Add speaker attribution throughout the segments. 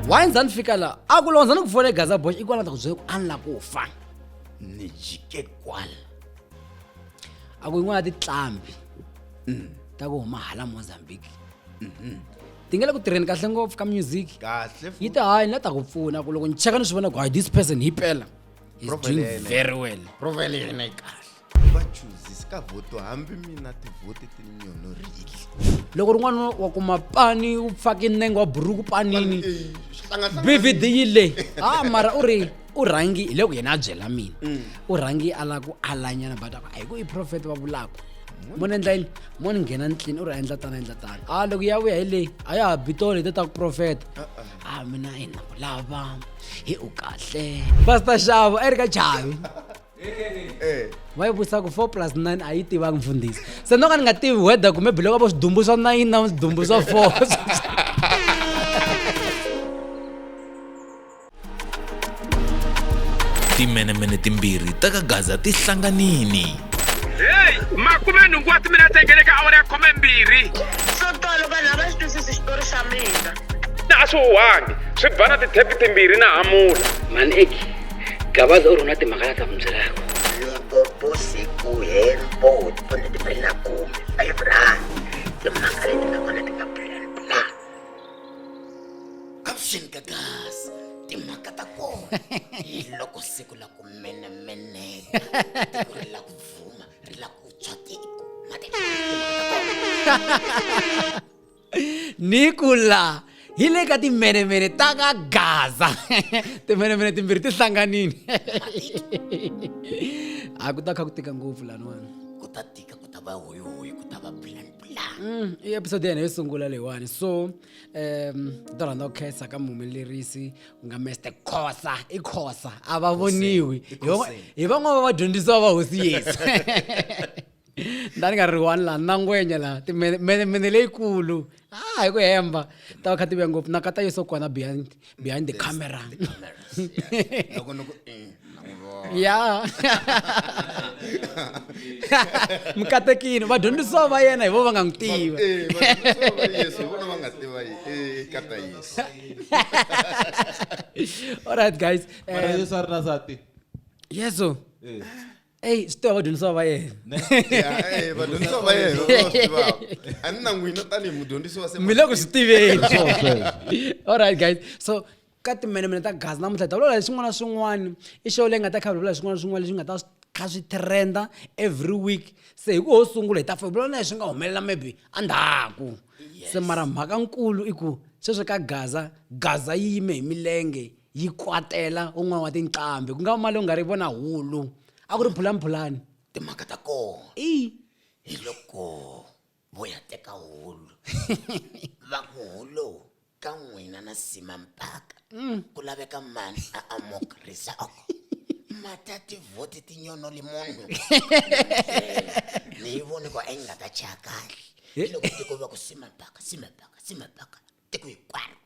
Speaker 1: wayenza ni fika la a ku londza ni ku fona gaza boy ikwala ta ku byela ku a ni la ku fa ni jike
Speaker 2: kwala a ku yin'wana
Speaker 1: ya titlambi mm, ta ku huma hala mozambique mhm. ti nge le ku tirheni kahle ngopfu ka music kahle yi ta hayi
Speaker 2: ni la ta ku
Speaker 1: pfuna ku loko ni cheka ni swi vona ku hayi this person hi pela he's Profile doing ya yena. very well profile ya yena yi
Speaker 2: kahle vachuzi ka vhoto hambi mina tivhoti ti nyolorile loko rin'wana
Speaker 1: wa kuma pani u pfake nenge wa buruku panini eh, bvd yi le a ah, mara u ri u rhangi hi le ku yena a byela mina mm. u rhangi a lava ku alanyana but a ku a hi ku i profeta va vulaka mo ni endla yini mo ni nghena nitlini u ri a endla tana endla tana a ah, loko ya vuya hi leyi a ya ha bitolo hi te ta ku profeta a uh-uh. ah, mina hi na ku lava hi u kahle pastor xavo a yi ri ka chavi va yi vutisa ku four plus nine a yi tivanga mfundhisi se no ka ni nga tivi weather kumbe biloko vo swidumbu swa nine na swidumbu swa four
Speaker 3: timenemene timbirhi ta ka gaza ti hlanganini heyi
Speaker 4: makume nhungu wa timina tengele ka awara ya khume mbirhi swo tolo
Speaker 5: vanhu a va xi twisisi xitori xa mina na a swi
Speaker 4: huhangi swi bana tithepi timbirhi na hamula maneki
Speaker 1: gabaza u ri na timhaka la ta n'wi byelaka loko
Speaker 6: vusiku helbo ti pone ti bela kumi a yi vulani timhaka leti nga kona ti nga bulani bula caption gagas timhaka ta kona hi loko siku la ku menemeneka tiko ri la ku vuma ri la ku tshwa tiko mati timhaka ta kona
Speaker 1: nikula hi le ka timenemene ta ka gaza timenemene timbirhi ti hlanganile a ku ta kha ku tika ngopfu laniwani ku ta tika ku
Speaker 6: ta va hoyihoyi ku ta va plan plan mm, i
Speaker 1: episode yena yo sungula leyiwani so um to rhandza ku khensa ka muhumelerisi ku nga meste khosa i khosa a va voniwi hi van'wana va vadyondzisiwa va hosi yesu nda ni nga ri one laha na ngwenya laha timene leyikulu a ah, hi ku hemba ta va kha ti vuya ngopfu na kata yeso kona behind behind the camera ya mikatekini vadyondzisiwa va yena hi vo va nga n'wi tiva all right guys um, yesu a ri na
Speaker 7: sati yesu
Speaker 1: eh. eyi swi tiva vadyondzisiwa va yena eh, vadyondzisiwa va yena a ni na n'wina tanihi mudyondzisi wa mi le ku swi tiveni all right guys so ka timenemene ta gazi namuntlha hi ta vulavula hi swin'wana na swin'wana i show leyi nga ta kha vulavula hi swin'wana na swin'wana leswi nga ta kha swi trenda every week se hi ku ho sungula hi ta fa vulavula hi swi nga humelela maybe endzhaku se mara mhaka nkulu i ku sweswi ka gaza gaza yi yime hi milenge yi kwatela un'wana wa tinqambi ku nga va mali u nga ri vona hulu a ku ri phulamuphulani timhaka ta
Speaker 6: kona i hi
Speaker 1: loko
Speaker 6: vo ya teka hulu va ku hulu ka n'wina na sima mpaka mm. ku laveka mani a amokrisa matati voti tinyono li munhu ni yi voni ku a yi nga ta chaya kahle loko tiko va ku sima mpaka sima mpaka sima mpaka tiko hinkwaro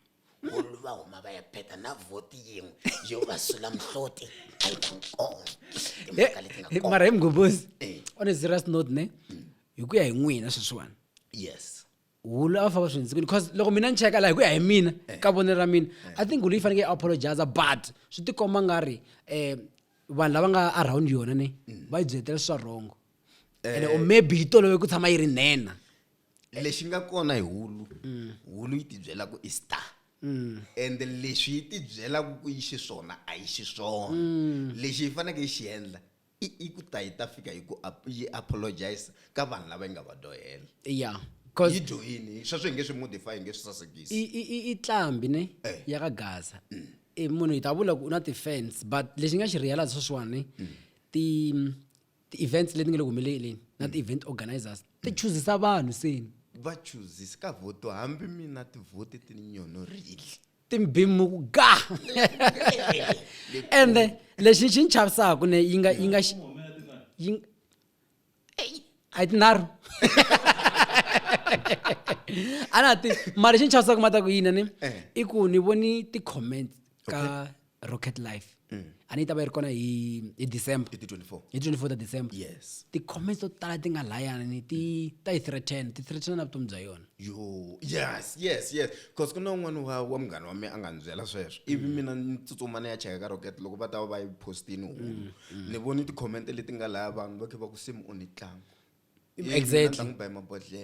Speaker 6: munhu va huma va ya beta na vhoti yin'we yo va sula mihloti mara hi mgombozi
Speaker 1: eh. on a serious note ne mm. hi ku ya hi n'wina sweswiwani yes
Speaker 6: hulu a va famba
Speaker 1: swi ndzi because loko mina ni cheka laha hi ku ya hi mina eh. ka vonelo ra mina eh. i think hulu yi fanekele yi apologiza but swi tikomba nga ri um vanhu lava nga around yona ne mm. va yi byeletela swa wrongo ene or maybe yi tolovi ku tshama yi ri nena lexi nga
Speaker 2: kona hi hulu hulu yi tibyela ku i star ende leswi yi tibyelaka ku yi xiswona a yi xiswona lexi yi faneke yi xi endla i i ku ta yi ta fika yi ku ap- yi apologize ka vanhu lava yi nga va dyohela ya yi cause
Speaker 1: dyohini
Speaker 2: sweswo hi nge swi modify hi nge swi sasekisi i- i- i- i tlambi
Speaker 1: ne Eh. ya ka gaza i munhu hi ta vula ku u na ti-fans but lexi nga xi realize sweswiwani ti ti-events leti nga le ku humeleleni na mm. ti-event organizers ti mm. chuzisa vanhu seni va chuzisa
Speaker 2: ka voto hambi mina tivhoti ti ni nyonorile timbimu ku
Speaker 1: ga ende lexi xi ni chavisaka ne yi nga yi nga yi a yi tinharhu a na ti mara xi ni chavisaka ma ta ku yina ni eh. i ku ni voni ti-comments ka okay. rocket life mm. a ni yi ta va yi ri kona hi hi december hi 24 ta
Speaker 2: december
Speaker 1: yes ti-comments
Speaker 2: to tala ti
Speaker 1: nga layani ti ta yi threaten ti threaten na vutomi bya yona yo yes
Speaker 2: yes yes bcause ku na un'wana wa wa munghana wa mina a nga ni byela sweswo ivi mm. mina ni tsutsuma ni ya cheka ka rocket loko va ta va va yi postini hulu mm, ni voni ti-comment leti nga laya vanhu va khe va ku simu u ni tlanga
Speaker 1: exactly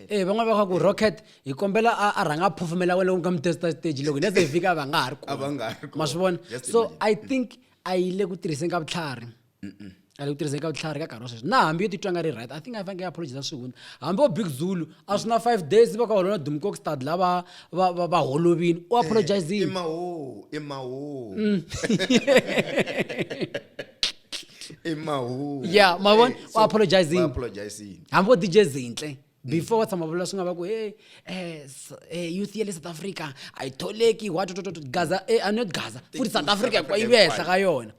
Speaker 2: eh van'wana va kha ku rocket
Speaker 1: hi kombela a rhanga a phofumela wena u nga mi testa stage loko nese hi fika va nga ha ri kona ma swi vona
Speaker 2: so
Speaker 1: i think
Speaker 2: a yi
Speaker 1: le ku tirhiseni ka vutlhari a le ku tirhiseni ka vutlhari ka nkarhi wa sweswi na hambi yo titwa nga ri right i think i fanekele apologiza swihundla hambi wo big zulu a swi na five days va ka holona dumcox stad la va va va va holovini u eh, apologizile i mawo i
Speaker 2: mawo mm.
Speaker 1: i mahungu ya ma vona u apologizing apologizing hambi vo
Speaker 2: dj zintle
Speaker 1: before wa tshama vula swi nga va ku e youth ya le south africa a yi tholeki watototot gaza e a not gaza futhi south africa kwa yi vehla ka yona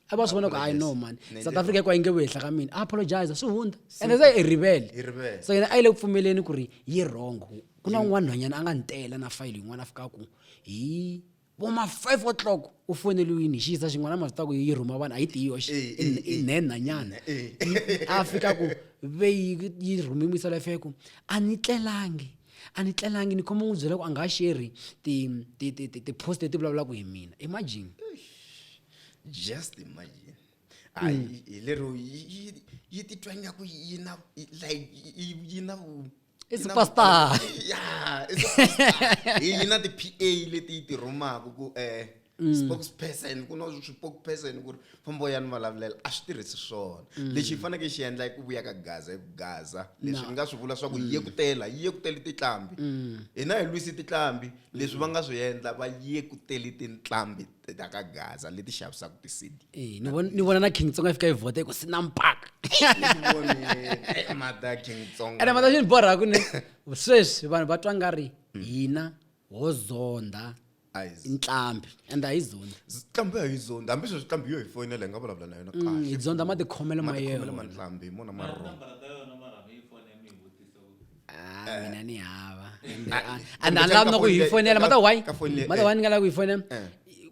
Speaker 1: a va swi vona ku hayi no man south africa kwa yi nge vehla ka mina a apologize swi hundza and se i rivele so yena a yi le ku pfumeleni ku ri yi wrong ku na un'wana nhwanyana a nga ni tela na fayili yin'wana a fika ku hi vo ma five o'clock u foneliwini hi xiyiza xin'wana ma swi ta ku yi rhuma vanhu a yi tiyi yoxe eh, eh, eh. i nhenhanyana a fika ku ve yi rhume misala ya feku a ni tlelangi a ni tlelangi ni khoma n'wi byela ku a nga sheri ti-post leti vulavulaka hi mina imagine
Speaker 2: just imagine hayi mm. hi lero yi titwa ingaku yi na like yi na i
Speaker 1: superstar ya i
Speaker 2: superstar yi na ti-pa leti yi ti rhumaka ku um mm. spokesperson ku na swipokesperson ku ri fambo ya ni vulavulela a swi tirhisi swona mm. lexi hi fanekele xi endla i ku vuya ka gaza i ku gaza leswi ni nga swi vula swa ku mm. yekutela yi yekuteli titlambi hina hi lwisi titlambi leswi va nga swi endla va yekuteli tintlambi ta ka gaza leti xavisaka ti-cd Eh, ni vona- ni vona na
Speaker 1: king tsonga yi fika yi vhota yi ku sina mpaka Vone,
Speaker 2: mata king tsonga ene mata xi ni borha ku ne
Speaker 1: sweswi vanhu va twa nga ri hina ho zonda Eyes. ntlhambi ende a hi zonda ntlhambi ya hi zonda
Speaker 2: hambi sweswi ntlhambi yo hi foyinela hi nga vulavula na yona Mm, hi zonda matikhomelo ma
Speaker 1: matikhomelo yena mantlambi hi mona marhongo Ah, eh. mina ni hava ah, and a lavi na ku yi fonela mata why mata why ni nga lavi ku yi fonela eh.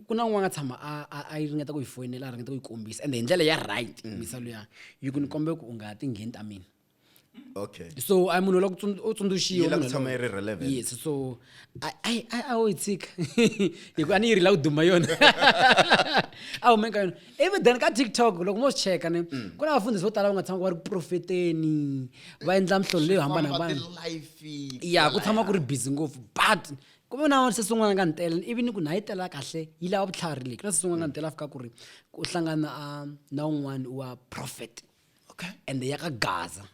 Speaker 1: ku na un'wana nga tshama a yi ringeta ku yi fonela a ringeta ku yi kombisa ende hi ndlela ya right mm. misa luya yi ku ni kombe ku u nga ti ngheni ta mina okay
Speaker 2: so a munhu la
Speaker 1: u tsundzuxiwa tshama yi ri relevant
Speaker 2: yes so
Speaker 1: ai ai a yi tshika hikuva a ni yi ri la ku duma yona a hume ka yona ivi then ka tiktok loko mo swi cheka ni mm. ku na vafundhisi vo tala va nga tshama ku va ri profeteni va endla mihlolo leyo hambanahambana ya ku tshama ku ri busy ngopfu but ku ve na se swin'wana ka ntela ivi ni ku na yi tela kahle yi lava vutlhari leyi ku na se swin'wana ka mm. ntela fika ku ri ku hlangana na un'wana wa prophet okay and ya ka gaza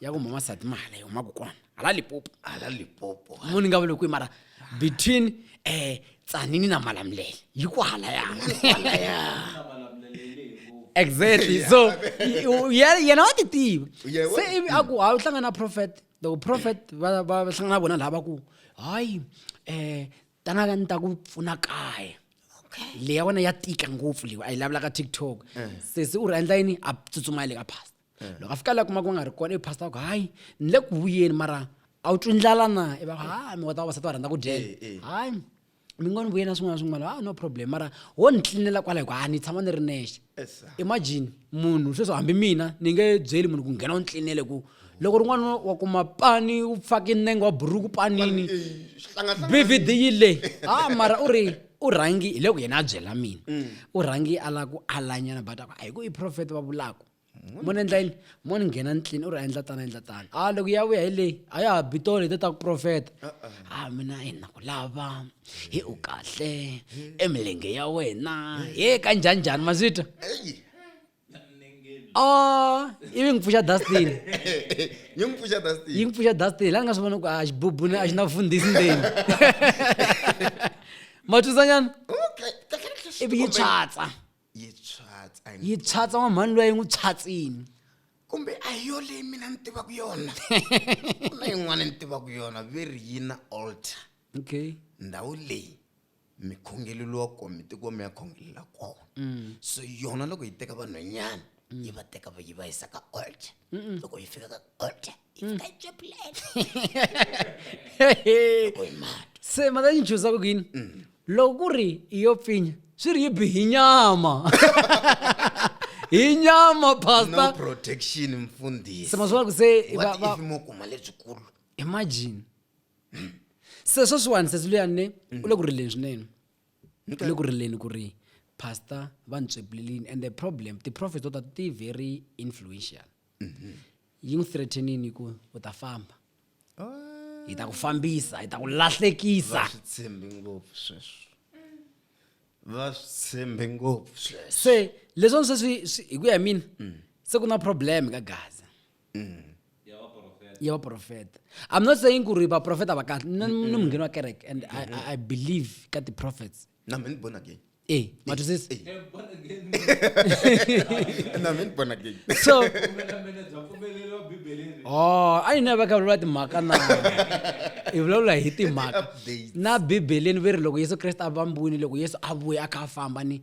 Speaker 1: ya ku mama sati mahala yi humaka kona hala lipopo hala lipopo mo ni nga vule kwihi mara between um tsanini na malamulele yi ku hala exactly so yena wa ti tiva se ivi a ku a wu hlangana prophet loko prophet va hlangana vona laha va ku hayi um tanaka ni ta ku pfuna kaya leyi ya wena ya tika ngopfu leyi a yi lavulaka tiktok eh. sesi u ri endla yini a tsutsuma le ka pasta eh. loko a fika la kuma ku nga ri kona i pastor ku hayi ni le ku vuyeni mara a wu twi ndlala na i va hayi mi kota vavasati va rhandza ku dyela eh, eh. hayi mi ngo ni vuyeni na swin'wana swin'wana ha ah, no problem mara wo ni tlinela kwala hi ku ha ni tshama ni ri nexe imagine munhu sweswo hambi mina ni nge byeli munhu ku nghena u ni tlinele ku loko rin'wana wa kuma pani u fake nenge wa buruku panini bvd yi le ha ah, mara u ri u rhangi hi le ku yena a byela mina mm. u rhangi a lava ku alanyana but a ku a hi ku i profeta va vulaka mona endla yini mona nghena ndlini u ri a endla tani a endla tani a loko ya vuya hi leyi a ya ha bitolo hi ta ta ku profeta a mina hi na ku lava hi u kahle emilenge ya wena he ka njhanjhani ma swi twa o ivi ngi pfuxa dustin yi n'wi pfuxa dustin yi n'wi pfuxa dustin laha ni nga swi vona ku a xibubuni a xi na vufundhisi ndzeni ma twisanyana ivi yi tswatsa yi tshwatsa yi yi tshwatsa wa mhani loyi yi n'wi tshwatsini kumbe a
Speaker 2: hi yo leyi mina ni tivaka yona ku na yin'wana ni tivaka yona ve ri yi na altar okay
Speaker 1: ndhawu leyi
Speaker 2: mikhongelelo wa kona mitikwami ya khongelela kona Mm. so yona loko yi teka vanhwanyana yi va teka va yi va yisa ka altar loko yi fika ka altar
Speaker 1: iphetshe plate loko hi mati se mhaka yi chuza ku yini loko ku ri i yo pfinya swi ri yi bi hi nyama hi nyama no pasta
Speaker 2: protection mfundhisi se maswala ku se
Speaker 1: va- what va- if mo kuma
Speaker 2: lebyikulu imagine
Speaker 1: se sweswiwani sesi luyani ne u le ku rileni swinene u le ku rileni ku ri pastor va ni tswepulelini and the problem ti-profit to ta ti very influential mhm. yi n'wi threatenini ku u ta famba hi ta ku fambisa hi ta ku lahlekisa swi tshembi
Speaker 2: ngopfu sweswo va swi tshembi ngopfu sweswo se leswi
Speaker 1: sweswi hi ku ya mina mm. se ku na problem ka gaza mm. ya vaprofeta i'm not saying ku ri vaprofeta va kahle ni mungheni wa kereke and I, I believe ka ti-prophets na mini born again
Speaker 2: ee matwisisi Eh, bona
Speaker 1: again.
Speaker 2: na mini born again so Pfumela mina bya
Speaker 1: pfumeleriwa Bibeleni. oh a yi na va kha vulavula timhaka na hi vulavula hi timhaka Update. na
Speaker 2: bibeleni ve
Speaker 1: ri loko yesu kreste a vambwini loko yesu a vuya a kha a famba ni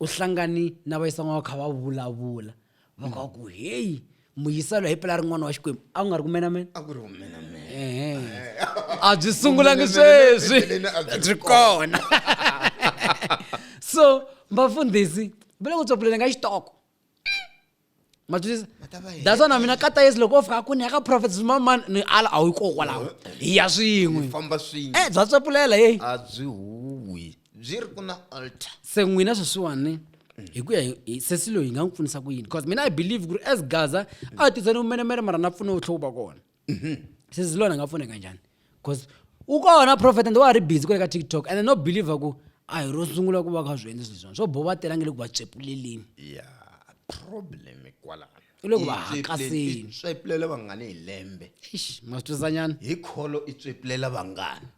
Speaker 1: u hlangani na vayisan'wana va kha va vulavula mhaka wa ku heyi muyiselo hi pela ri n'wana wa xikwembu a ku nga ri kumenamena a ku ri
Speaker 2: kumenamena
Speaker 1: a byi sungulangi sweswi byi
Speaker 2: kona
Speaker 1: so vafundhisi va le ku tsopuleleni ka xitoko matwisisa that's why na mina kata yesu loko o fika kuni ya ka prophet mamani ni ala a wu yi kokwalaho hi ya swin'we famba swin'we eh bya
Speaker 2: tsopulela yeyi
Speaker 1: a byi huwi
Speaker 2: byi ri ku na altar se n'wina sweswiwani
Speaker 1: hi ku ya hi- hi sesi loyi hi nga n'wi pfunisa ku yini because mina i believe ku ri as gaza a tisani umenemene mara na pfune vutlhoku va kona sesi lona a nga pfuneka njhani because u kona profet and wa ha ri busy kwale ka tiktok and no believe ku a hi ro sungula ku va kha swi endle swilo swona swo bo va tela nge le ku va tswepuleleni ya
Speaker 2: problem kwalano I le ku va I tsweplele-
Speaker 1: hakaseni. i tsweplele vangani
Speaker 2: hi lembe Eish, ma swi
Speaker 1: twisanyana hi kholo i
Speaker 2: tswepulela vangani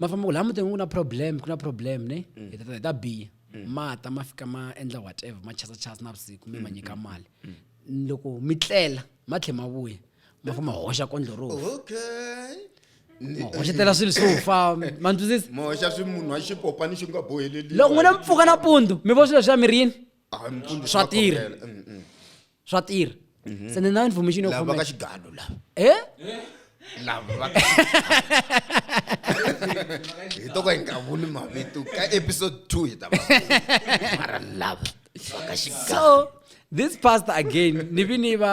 Speaker 1: ma famba ku laha mutini ku na problem ku na problem ne mm. hi ta biya mm. mata ma fika ma endla whatever ma chasa chasa na vusiku mi ma mm, nyika mali loko mi tlela ma tlhe ma vuya ma famba hoxa kondlo ro
Speaker 2: hoxetela
Speaker 1: swilo swo fa ma ntwisisi moxa swi munhu wa
Speaker 2: xipopani xi nga boheleli loko n'wina mi pfuka
Speaker 1: nampundzu mi vo swilo swa mirini ah, swa tirha swa tirha mhm. se ni na information yo khomeka xigalo la
Speaker 2: eh
Speaker 1: lava va
Speaker 2: hi to ka hi nga vuli mavito ka episode 2 hi ta va mara lava va ka xigalo so this
Speaker 1: pastor again ni vi ni va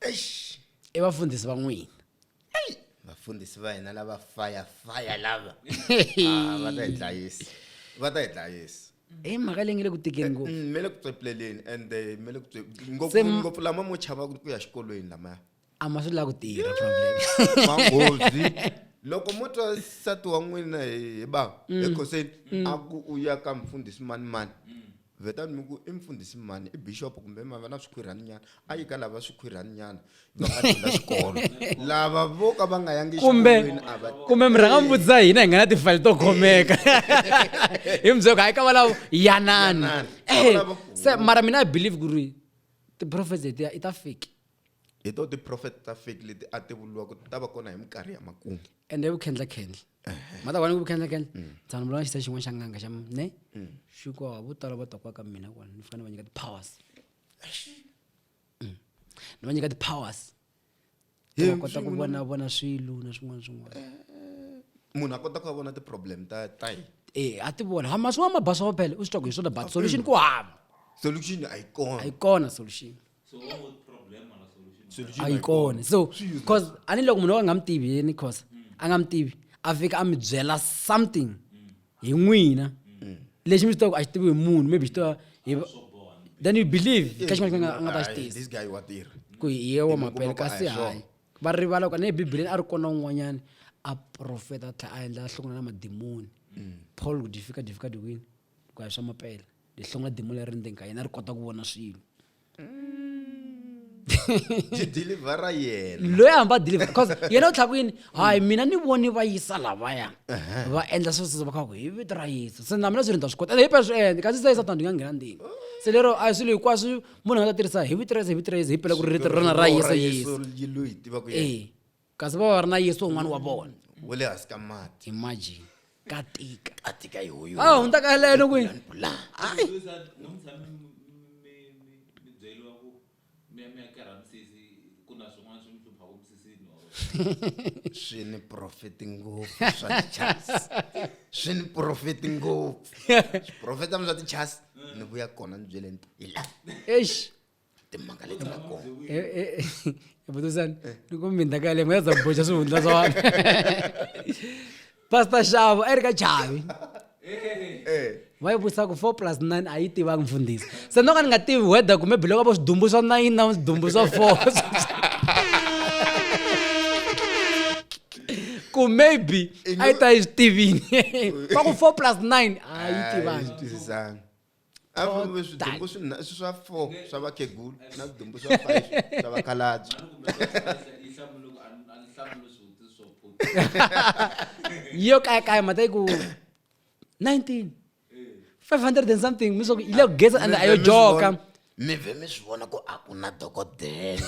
Speaker 1: eish i vafundhisi va n'wina eyi vafundhisi
Speaker 2: va hina lava faya faya lava ah, va ta hi dlayisa va ta hi dlayisa i eh, mhaka leyi nge le ku tikeni
Speaker 1: ngopfu mm, me le ku tswepleleni
Speaker 2: ande me le ku ngopfu lama mo
Speaker 1: chava
Speaker 2: ku ya xikolweni lamaya a ma swi la ku tirha
Speaker 1: problem manghozi
Speaker 2: loko mo twa nsati wa n'wina hi hi ba mm. ekhoseni mm. a ku u ya ka mfundhisi mani mani mm. vetani mi ku i mfundhisi mani i bixopo kumbe mava na swikhwirhani nyana a yi ka lava swikhwirhani nyana va nga dyondza xikolo lava vo ka va nga yangi kumbe kumbe mi rhanga mi vutisa
Speaker 1: hina hi nga na tifayili to khomeka hi mi byoko hayi ka valavo yanani eh, se mara mina i believe ku ri ti-prophet letiya i ta fake hi to
Speaker 2: tiprofeta ta fake leti a ti vuriwa ku ti ta va kona hi minkarhi ya makumu ende vukhendlakhendla
Speaker 1: mata wani ku vukhendlakhendla mm. tshani vulana xisa xin'wana xa nganga xa ne mm. xi ko vo tala va ta kwaka mina kona ni fika ni va nyika ti-powers mm. ni va nyika ti-powers va kota ku vona vona swilo na swin'wana swin'wana eh, eh.
Speaker 2: munhu a kota ku va vona ti-problem ta ta yi e eh, a ti vona ha masiwa
Speaker 1: mabasa va phele u swi twa ku hi swona but solution ku hava solution a yi
Speaker 2: kona a yi kona
Speaker 1: solution a yi kona so cause a ni loko munhu wa nga mi tivi yini cause a nga mi tivi a fika a mi byela something hi n'wina lexi mi xi tivaka a xi tivi hi munhu maybe xi tiva hi then you believe ka xin'wana xin'wana a nga ta xi tisa ku
Speaker 2: hi ye wa
Speaker 1: mapele kasi hayi
Speaker 2: va rivala ku a
Speaker 1: ne bibeleni a ri kona un'wanyana a profeta a tlhela a endla a hlukana na madimoni paul ku difika difika diwini Hi ku ya hi swa mapela lihlonga dimu leri ndzeni ka yena ri kota ku vona swilo
Speaker 2: dilivhara yena loyi a hamba deliver because
Speaker 1: yena u tlhaka yini hayi mina ni voni va yisa lavaya va endla swo swo va kha ku hi vito ra yesu se na mina swi ri ni ta swi kota ende hi phela swi endle kasi se satan ni nga nghena ndini se lero a hi swilo hinkwaswo munhu a nga ta tirhisa hi vito ra yesu hi vito ra yesu hi phela ku ri rito ra rona ra yesu yesu yi lo yi
Speaker 2: tiva ku yena ee kasi va
Speaker 1: va ri na yesu un'wana wa vona wa le hansi ka
Speaker 2: mati imagine ka
Speaker 1: tika a tika hi huyo a
Speaker 6: hundza ka leno kwi
Speaker 1: la hayi
Speaker 2: swi ni profeti ngopfu swa tichas swi ni profeti ngopfu swiprofeta mi swa tichas ni vuya kona ni byele nto hi la eish
Speaker 1: timhaka leti
Speaker 6: nga kona
Speaker 1: vutuzani eh, eh, eh. ni ku mindla ka yaleyo nga za boxa swihundla swa wani pastor xavo a yi ri ka chavi va yi vutisa ku four plus nine a yi tivangi mfundhisi se no ka ni nga tivi weather kumbe biloko vo swidumbu swa nine na swidumbu swa four ku maybe a yi ta yi swi tivini va ku four plus nine a yi tivangi
Speaker 2: a vo ve swidombo swinha- swi swa four swa vakhegulu na swidombo swa five swa vakhalabye
Speaker 1: yo kaya kaya mhata yi ku 19 500 and something mi swa ku yi le ku geza and a yo joka mi vhe mi swi
Speaker 6: vona ku a ku na dokodela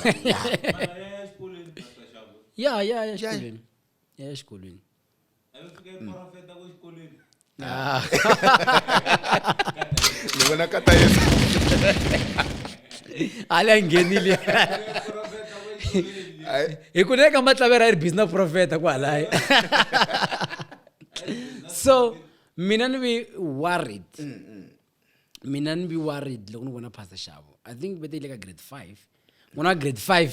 Speaker 1: ya ya ya ya exikolweni ya exikolweni Ah.
Speaker 2: ni vona ka tayesa
Speaker 1: hali a nghenili hi ku neka matlavera yi ri busy na profeta ku halaya so mina ni vi worried mina ni vi worried loko ni vona pastor xavo i think vete yi le ka grade five n'wana wa grade five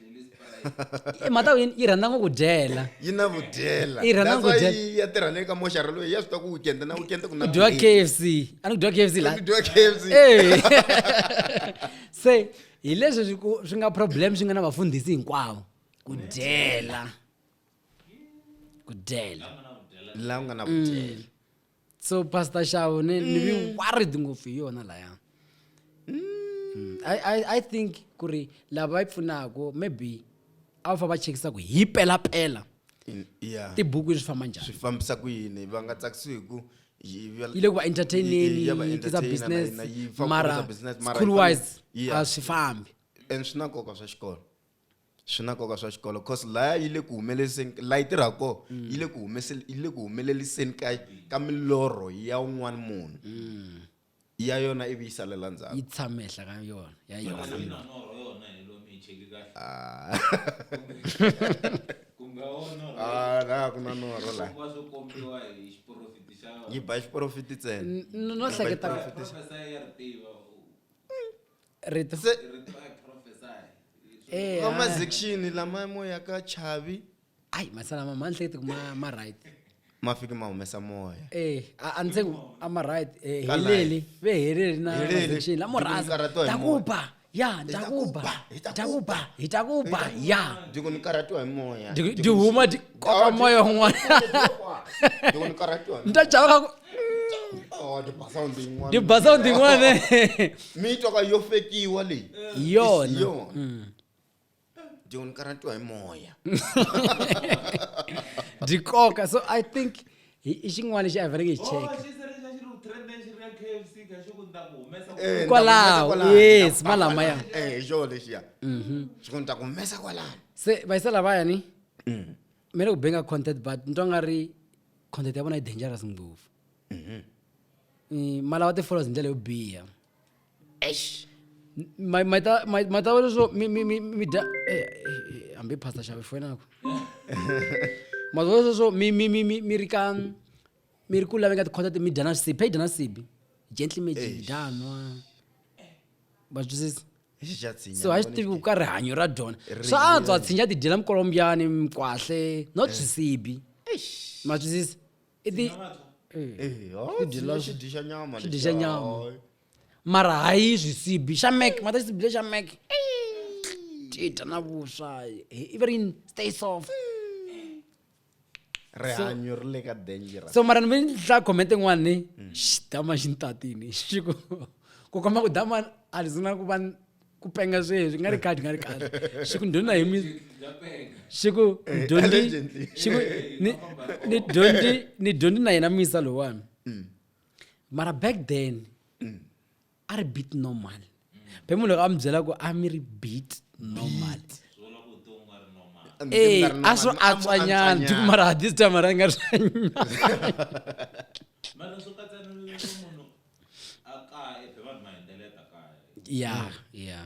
Speaker 1: Eh, mhaka yi yi rhandza ngopfu ku dyela yi na vudyela
Speaker 2: Yi rhandza That's ku why dyela. yi
Speaker 1: ya tirha le ka moxara
Speaker 2: loyi ya swi tiva ku weekend na weekend ku na ku dyiwa late. kfc a
Speaker 1: ni ku dyiwa kfc la Ku dyiwa KFC. Eh. se hi leswi swi ku- swi nga problem swi nga na vafundhisi hinkwavo ku dyela ku
Speaker 2: dyela la ku nga na vudyela so
Speaker 1: pastor shawo ni ni be mm. worried ngopfu hi yona laya mm. I, I, i think ku ri lava va yi pfunaka maybe a va fa va chekisa ku hi pelapela yeah.
Speaker 2: tibuku swi famba njhani
Speaker 1: swi fambisa ku yini
Speaker 2: va nga tsakisiwi hi ku yi le ku va
Speaker 1: entertaineni yi tisa
Speaker 2: business mara school
Speaker 1: wise
Speaker 2: a swi
Speaker 1: fambi and swi na nkoka
Speaker 2: swa xikolo swi na nkoka swa xikolo cause laya yi le ku humeleliseni la yi tirhaka kona mm. yi le ku humeseni yi le ku humeleliseni ka ka milorho ya un'wana munhu mm. ya yona ivi yi salela ndzhaku yi tshame ehla ka
Speaker 1: yona ya yona ah.
Speaker 2: ah, la ku na norho la yi ba xiporofiti ntsena no hleketa
Speaker 1: rito Se-
Speaker 2: Eh,
Speaker 1: ka ah. mazekixini lama
Speaker 2: mo ya ka chavi ai masalama
Speaker 1: ma ni hlekete ku ma ma right ma fike ma
Speaker 2: humesa moya Eh, a a ndzi ku
Speaker 1: a ma right eh, Ka heleli
Speaker 2: ve
Speaker 1: heleli na Heleli. transaction la Ndzi ku ni murasa
Speaker 2: karhatiwa
Speaker 1: hi ta moya. kuba
Speaker 2: ya Hi ta
Speaker 1: ta kuba kuba, hi ta ta kuba hi ta kuba ya ndzi ku ni karhatiwa hi
Speaker 2: moya Ndi- ndi huma ndi
Speaker 1: koka moya un'wana ndzi
Speaker 2: ku ni karhatiwa hi ni ta chava ka ku
Speaker 1: Oh, the
Speaker 2: bass sound in one. the baza ndin'wana
Speaker 1: mi twa
Speaker 2: ka yo fekiwa leyi Hi yona. Hi
Speaker 1: yona
Speaker 2: John ni karhatiwa hi moya
Speaker 1: byi koka so i think hi i xin'wana lexi a hi faneleke hi cheka Eh, Kwalaho, ndza ku humesa yes, ndza ku malama kwalano. ya. Eh, hi xona lexiya
Speaker 2: xi ku ni ta ku humesa kwalano se vayisa lavayani
Speaker 1: mi le ku benga content but ni twa nga ri content ya vona yi dangerous ngopfu mm-hmm. mm, malawa ti-followers hi ndlela yo biha matava leswo mi dya eh, eh, hambi pasta xave foyinako matava leswo mi ri ka mi ri ku laveka tikhota ti mi dya na swisibi phei dya na sibi gently magic danwa va twisisa so a xi tivi ku ka rihanyo ra dyona swa antswa tshinya ti dyela mikolombyani mikwahle not eh. swisibi ma twisisa i ti
Speaker 2: eh, oh, dyixa nyama
Speaker 1: mara hayi swisibi xa mek mata xisibi lexa mek tita na vuswa iverin stay soft
Speaker 2: rihanyo ri le ka dangerous so mara ni ve ni hlaya
Speaker 1: comment yin'wana ni mm. xidama xi ni tatini xi ku ku komba ku dama a ri zina ku va ku penga sweswi nga ri khadi nga ri khadi xi ku ndhuna hi mi xi ku eh, dyondzi xi ku ni ni dyondzi ni dyondzi na yena misa lowani mm. mara back then mm. a ri beat normal be munhu loko a mi byela ku a mi ri beat normal ee eh, a swo antswanyana ti kumara ha this time ra nga swanyana ya ya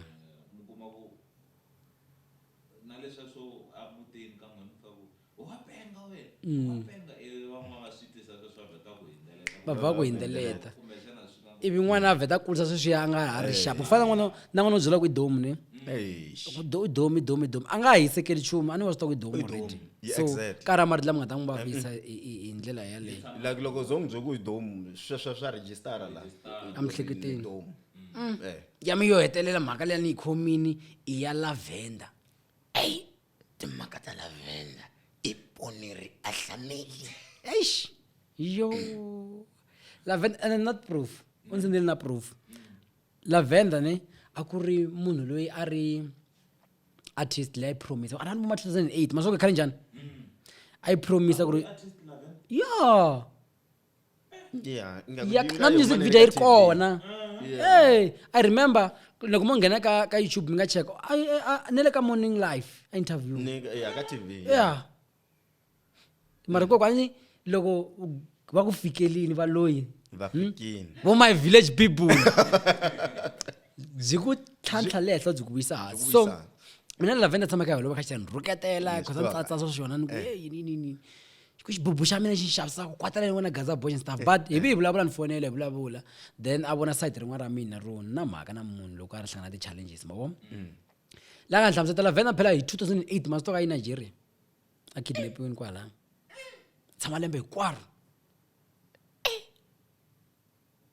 Speaker 1: Mm. va va ku hindzeleta ivi n'wana a vheta a kurisa sweswiya a nga ha ri xapu ku fana na n'wana na n'wana u byela ku i domu ni Eish. Do- i domu i domu i domu a nga ha hisekeli nchumu a ni wa swi tiva ku i domu I domu. already Yeah, so exactly. ka ra marito lama nga ta n'wi vavisa hi- hi hi ndlela yaleyo like loko zo n'wi bye ku
Speaker 2: hi domu sweswo swa rejistara la Emihleketweni.
Speaker 1: domu Eh. ya mi yo hetelela mhaka leya ni yi khomini i ya lavenda
Speaker 6: timhaka ta lavenda i poneri a hlameli eish
Speaker 1: yo lavenda and I'm not proof u ndzi ndzi na proof lavenda ne a ku ri munhu loyi a ri artist leyi a yi promise a ni vuma 2008 masoko khale njhani a yi promise ku ri ya yeah ya na music video yi ri kona ey i remember loko mo nghena ka ka youtube mi nga cheka Ai- ai- ai- ne le ka morning life a interview ya ka tv
Speaker 2: ya
Speaker 1: mara kokwani loko va ku fikelini va loyi va fikini
Speaker 2: vo my village
Speaker 1: people byi ku tlhantlha le henhla byi ku vuyisa hansi Byi ku so vuyisa hansi. mina ni lavenda tshamaka hi holova khaxani rhuketela khosa ni tsatsa swa swona ni ku "Hey, yini yini yini ku xibubu xa mina xi xavisaka kwatala ni vona gaza boys and stuff but hi vi hi vulavula ni fonela hi vulavula then a vona side rin'wana ra mina ro na mhaka na munhu loko a ri hlangana ti-challenges ma vona mm. la nga ni hlamusetela vhena phela hi 2008 masito ka yi nigeria a kidnapiwini kwalaya tshama lembe hinkwaro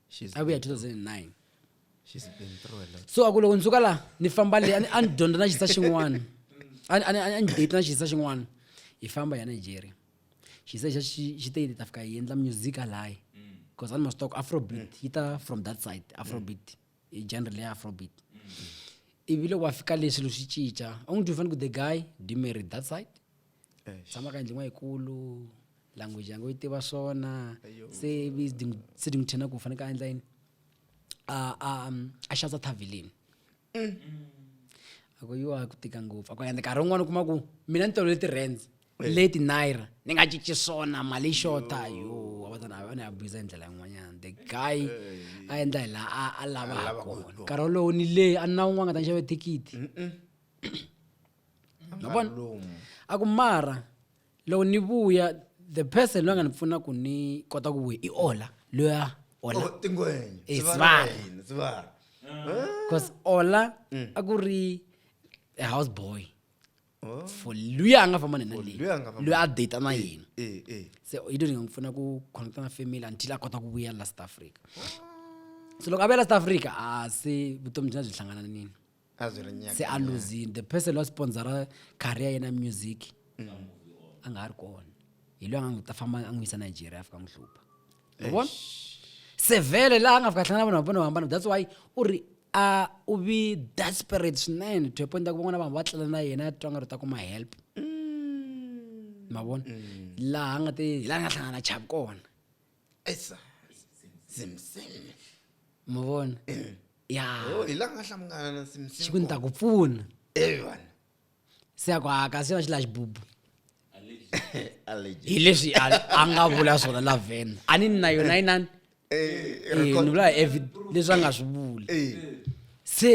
Speaker 1: She's a vuya been through- 2009 she's
Speaker 2: been through a lot so a ku loko ni suka laha
Speaker 1: ni famba le a ni- a ni dyondza na xisa xin'wana a ni- a ni- a ni date na xisa xin'wana hi famba hi ya nigeria xisa xa xi xi te yi ta fika yi endla music alayi because a ni masitoko afrobeat yi ta from that side afrobeat i genre leya afrobeat ivi loko wa fika le swilo swi cinca a n'wi twi fanele ku the guy do you marry that side tshama ka yindlin'wa yikulu language yange yi tiva swona se se ni n'wi chena ku faneke a endla yini a a a xavisa thavilini mm. a ku yiwa ku tika ngopfu a ku ende nkarhi wun'wana u kuma ku mina ni tolovele ti-rands leti naira ni nga cinci swona mali yi xota yo avatana a ni abusa hi ndlela yin'wanyana the guy a endla hi laha a lava ha kona nkarhi wolowo ni leyi a ni na wun'wana nga ta ni xave thikithi a ku mara loko ni vuya the person loyi a nga ni pfuna ku ni kota ku vuya i ola loya ola oh, tingwenya eh,
Speaker 2: sivara
Speaker 1: because ola mm. a ku ri a house boy oh. for luya a nga famba nena leyi loyi a data na eh, yena eh, se yi to ni nga n'wi pfuna ku connecta na family until a kota ku vuya la south africa so loko a vuya la south africa a se vutomi byina byi hlangana nini se a luzini the person loyi a sponsora career yena music mm. a nga ha ri kona hi loyi a nga n'wi ta famba a n'wi yisa nigeria a fika n'wi hlupha vona se vhele laha a nga fika a hlangana vanhu va vona vo hambana that's why u ri a u vi desperate swinene to point ku van'wana vanhu va tlela na yena twa nga ri ta kuma help mm. ma vona mm. laha a nga te hi laha nga hlangana chavi kona Esa.
Speaker 2: Simsimi. ma
Speaker 1: vona ya Oh, hi la nga
Speaker 2: hlangana na xi ku ni simsimi. ta ku pfuna
Speaker 1: Eh vana.
Speaker 2: se
Speaker 1: ya ku a kasi yona xi la xibubu Allergy. hi leswi a a nga vula swona la vhena a ni ni na yona yinani Eh, Eh, ni record. vula evi leswi a nga swi vuli Eh. se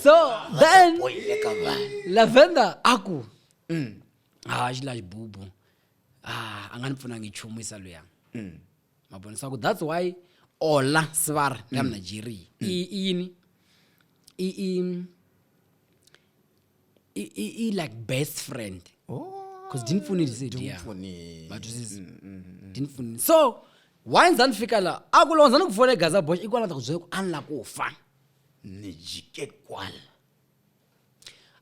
Speaker 1: so then Oyile ka vana.
Speaker 6: lavenda a ku
Speaker 1: Mm. ha xi la xibubu ah, a nga ni pfunangi nchumu isa luya mm. ma vona swa ku that's why ola sivara ya mm. mnigeria mm. i yini i i i i like best friend because oh. ndinifuni ndisidia matwisisa ndinifuni so why ndza ni fika la a ku loko ndza ni ku fona egaza bosh i kwala ndza ku byela ku a ni la ku fa ni
Speaker 6: jike kwala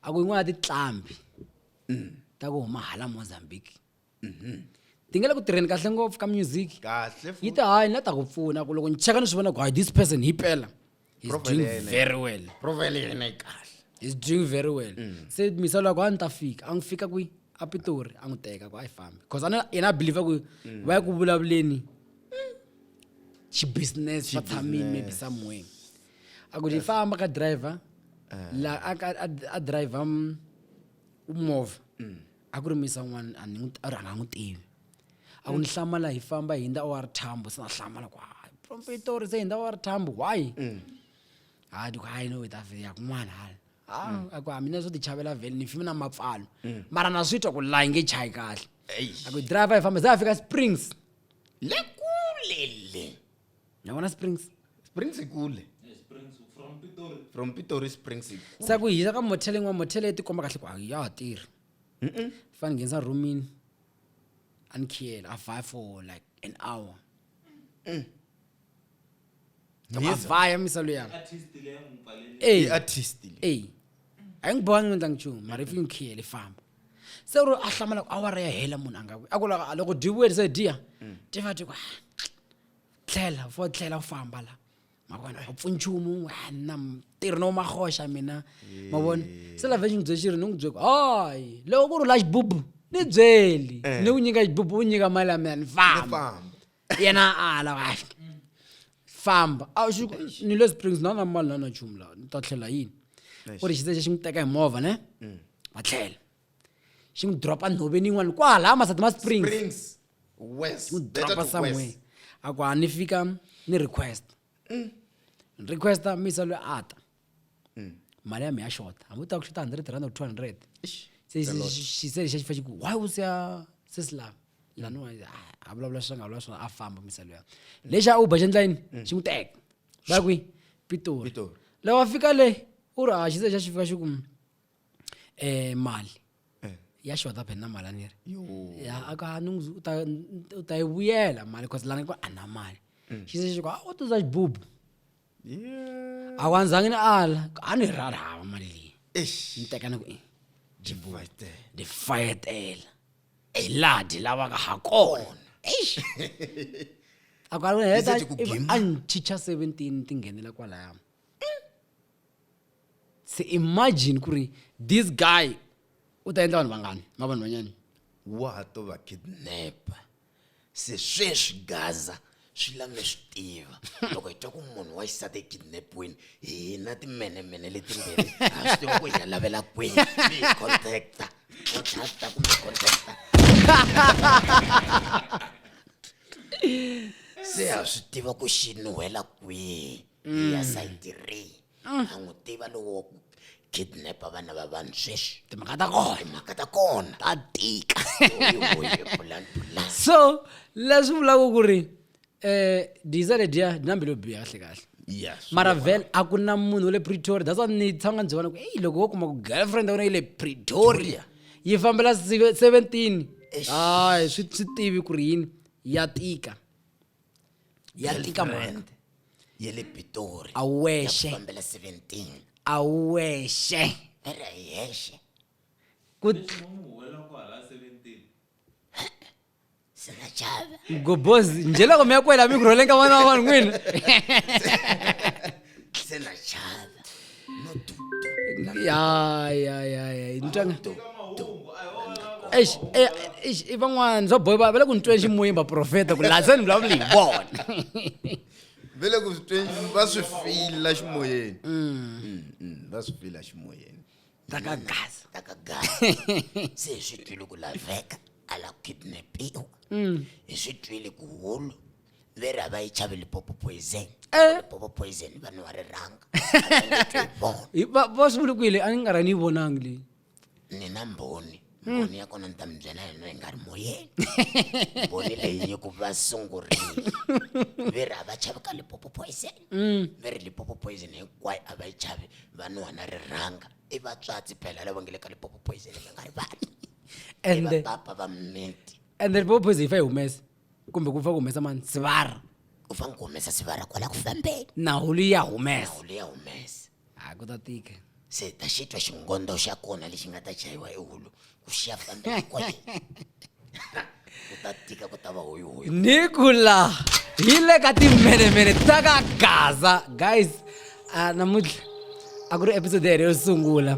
Speaker 1: a ku yin'wana ya tinqambi mm. ta ku huma hala mozambique mm-hmm. ti nge le ku tirheni kahle ngopfu ka music yi ta hayi
Speaker 2: ni la ta ku
Speaker 1: pfuna ku loko ni cheka ni swi vona ku hayi this person hi pela he's doing very well profile yena yi
Speaker 2: kahle he's doing very
Speaker 1: well mm. se misalo ya ku a ni ta fika a n'wi fika kwi a pitori a n'wi teka ku a yi fambi because ana yena a believe ku mm. va ya ku vulavuleni mm. xibusiness va tshamile maybe somewhere a ku ni famba ka driver la a ka- a a driver mm, movha a ku ri misa un'wana a ni n'wi- a ri a nga n'wi tivi a ku ni hlamala hi famba hi ndza wa ri thambo se na hlamala ku hayi profetori se hi ndza wa ri thambo why hayi ndiku hayi no hi ta vheya kun'wana hala ha a ku ha mina swo ti chavela vhele ni fimi na mapfalo mara na swi twa ku la yi nge chayi kahle a ku driver hi famba se a fika springs le kule
Speaker 6: le ni vona
Speaker 1: springs springs ikule
Speaker 2: from pitori springs sa ku hisa ka
Speaker 1: motheleng wa mothele ti komba kahle ku a ya ha tirhi fane nghenisa roomini a ni khiyela a vaya for like an hour mm. a vaya misalo ya eyi
Speaker 2: a yi n'wi
Speaker 1: bohangi endla nchumu mara yi fike n'wi khiyele famba se ro a hlamala ku awara ya hela munhu a nga a ku loko a loko dyi vuye se diya ti va ti ku "Ah, tlhela fo tlhela u famba la ma vona a pfuni nchumu "Ah, na tirhi no mahoxa mina ma vona se la vhe xi n'wi bye xi ri ni n'wi bye ku hayi loko ku ri la xibubu ni byeli ni ku nyika xibubu u nyika mali ya mina ni famba famba yena ala kahle famba a xi ku, ni le springs na na mali na na nchumu laha ni ta tlhela yini u ri xitsexe xi n'wi teka hi movha ne va tlhela xi n'wi dropa nhoveni yin'wana kwala masati ma springs Springs. West. n'wi
Speaker 2: Better dropa to somewhere
Speaker 1: west. a ku a ni fika ni request ni requesta misa loyi a ta mali ya mi ya xota hambi u ta ku xota 100 rand or 200 Eish, se se- se- xi- se xa xi fa xi ku why u siya sesi la laniwa a vulavula swi nga vulavula swona a famba misalo ya lexi a uber xi endla yini xi n'wi teka va ya kwihi pitori Pitori. loko a fika le u ri a xi se xa xi fika xi ku um mali Eh. ya xota phena mali a ni ri Yo. ya a ka ni n'wi- u ta- u ta yi vuyela mali cause lana ku a na mali xi se xi ku a u tuza xibubu a wa ndzangi ni ala a ni rhali hava mali leyi ni teka ni ku i ni fayetela hi laha dyi lavaka ha kona a ku a heta a ni chicha seventeen ti nghenela kwalaya se imagine ku ri this guy u ta endla vanhu vangani ma vanhu vanyani wa ha to va
Speaker 2: kidnapa
Speaker 6: se sweswi gaza swi la mi swi tiva loko hi twa ku munhu wa xisati e kidnapiwini hina timenemene letimbirhi ha swi tiva ku hi ya lavela kwihi mi hi contacta contacta kumbe contacta se ha swi tiva ku xi nuhela kwihi hi ya sayiti rihi mm. a n'wi tiva lowo kidnapa vana va vanhu sweswi timhaka ta kona timhaka
Speaker 1: ta kona
Speaker 6: ta tika so
Speaker 1: leswi vulaka ku ri um diza ledya dinambi lo biha kahle kahle mara vel
Speaker 2: a ku
Speaker 1: na munhu wa le pretoria that's ni tshanga ndzi vona ku eyi loko wo kuma ku girlfriend ya wena yi le pretoria yi fambela seventeen hayi swi tivi ku ri yini ya tika ya tika mhani ya le
Speaker 6: pitori a wu wexe fambela 17 a wu wexe
Speaker 1: a ri hi
Speaker 6: hexe ku sinachava gobozi njhe
Speaker 1: loko mi ya kwela mi ku rholeka vana va vanhu n'wina
Speaker 6: senachava
Speaker 1: i van'wana swa boy va le ku ni tweni ximuyimba profeta ku laha se ni vulavuli hi vona
Speaker 2: va le ku tweni va swi fila ximoyeni mm. Mm, mm, va swi fila ximoyeni takagaza
Speaker 1: takagaza
Speaker 6: se hi swi twile ku laveka a la ku kidnapiwa hi swi twile ku hulu veri a va yi chavi lipopo poison Eh. lipopo poison vanhu va ri rhanga A va nge twi vona. Hi- va
Speaker 1: va swi vule kwile a ni nga ra ni yi vonangi leyi ni na
Speaker 6: mbhoni mbhoni ya kona ni ta mi byela yona yi nga ri moyeni mbhoni leyi yi ku va sungurile veri a va chavi ka lipopo poison veri lipopo poison hinkwayo a va yi chavi vanhu wana ri rhanga i vatswatsi phela lava nge le ka lipopo poison mi nga ri vanhu i ende
Speaker 1: vapapa va mimiti
Speaker 6: ende lipopo poison yi fa yi
Speaker 1: humesa kumbe ku pfa ku humesa mani sivara u fanele ku humesa
Speaker 6: sivara kwala ku fambeni nawu liya
Speaker 1: humesa nawu liya humesa
Speaker 6: hayi ku ta tika
Speaker 1: se ta xitwa
Speaker 6: xingondo xa kona lexi nga ta chayiwa ehulu ku xiya fambeni kwale ku ta tika ku ta va hoyihoyi nikula
Speaker 1: hi le ka timhenemene ta ka gaza guys a namuntlha a ku ri episode yere yo sungula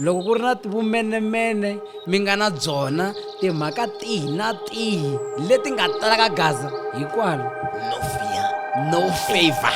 Speaker 1: loko ku ri na vumenemene mi nga na byona timhaka tihi na tihi leti nga talaka gaza hikwalo no
Speaker 6: fear no
Speaker 1: favor